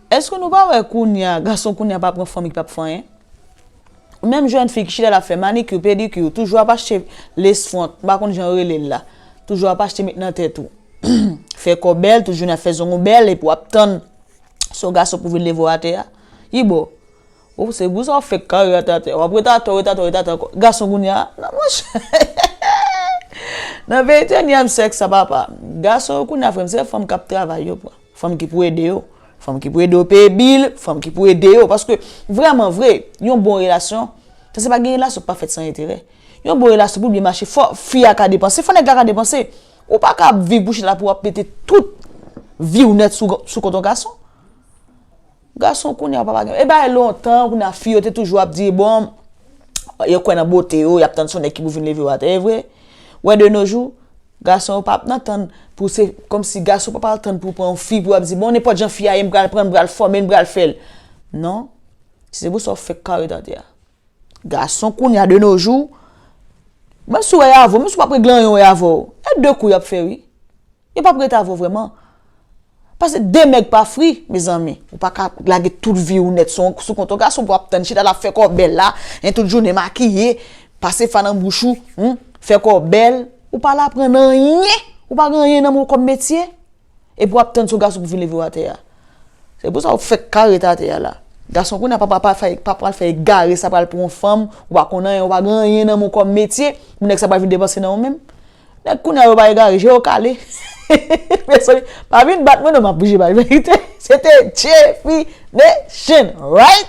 Eske nou pa wè kounya gason kounya pa pran fanm ki pap fè anyen? Menm jèn fi ki chita la fè manikyou, pedikyou, toujou ap achte lace front, m pa konn jan yo rele l la, toujou ap achte met nan tèt ou, fè kò bèl, toujou nan fè zong ou bèl epi w ap tann se yon gason pou vin leve w atè a? Yibo, Ooh se gou sa ou fek kare a te atè wap ret atè ou ret atè ou ret atè anko gason kounya nan monchè nan peyi te nyem sèks sa papa gason yo kounya frèm se fanm kap travay yo pran fanm ki pou ede yo fanm ki pou ede yo peye bil fanm ki pou ede yo paske vrèman vre yon bon relasyon ta se pa gen relasyon ki pa fèt san enterè yon bon relasyon pou byen mache fò fi a ka depanse fò nèg la ka depanse ou pa ka ap viv pou chita pou wap mete tout viw nèt sou kont yon gason. Gason kounye a papa gen. E bagay lontan kounye a fi yo te toujou ap di bon yo kwè nan bote yo, yap tann son nèg ki pou vin leve yo atè e vre. Wè de no jou gason yo pap nan tann pou se kòmsi gason pap al tann pou pran yon fi pou ap di bon nenpòt jan fi a ye m pral pran l m pral fòme l m pral fè l non si se pou sa ou fèk ka ret atè a. Gason kounye a de no jou menm si ou wè y avè w menm si ou pa pregle anyen ou wè y avè w e de kou yap fè wi. Yo pap ret avèw vrèman. Pase de nèg pa fri mezanmi. Ou pa ka lage tout vi ou nèt sou kont yon gason pou ap tann chita la fè kòw bèl la, hein tout jounen makiye, pase fa nan bouch ou, humm, fè kòw bèl. Ou pa al aprann anyen, ou pa gen anyen nan menw kòm metye. Epi wap tann se yon gason pou vin levew atè a. Se pou sa ou fèk ka ret atè a la. Gason kounya pa pral fè egare sa pral pran yon fanm, ou pa konn anyen, ou pa gen anyen nan menw kòm metye pou nèg sa pa vin depanse nan ou menm. Nèg kounya yo pa egare je yo kale mezanmi pa vin bat mwen non map bouge bay verite se te definition right.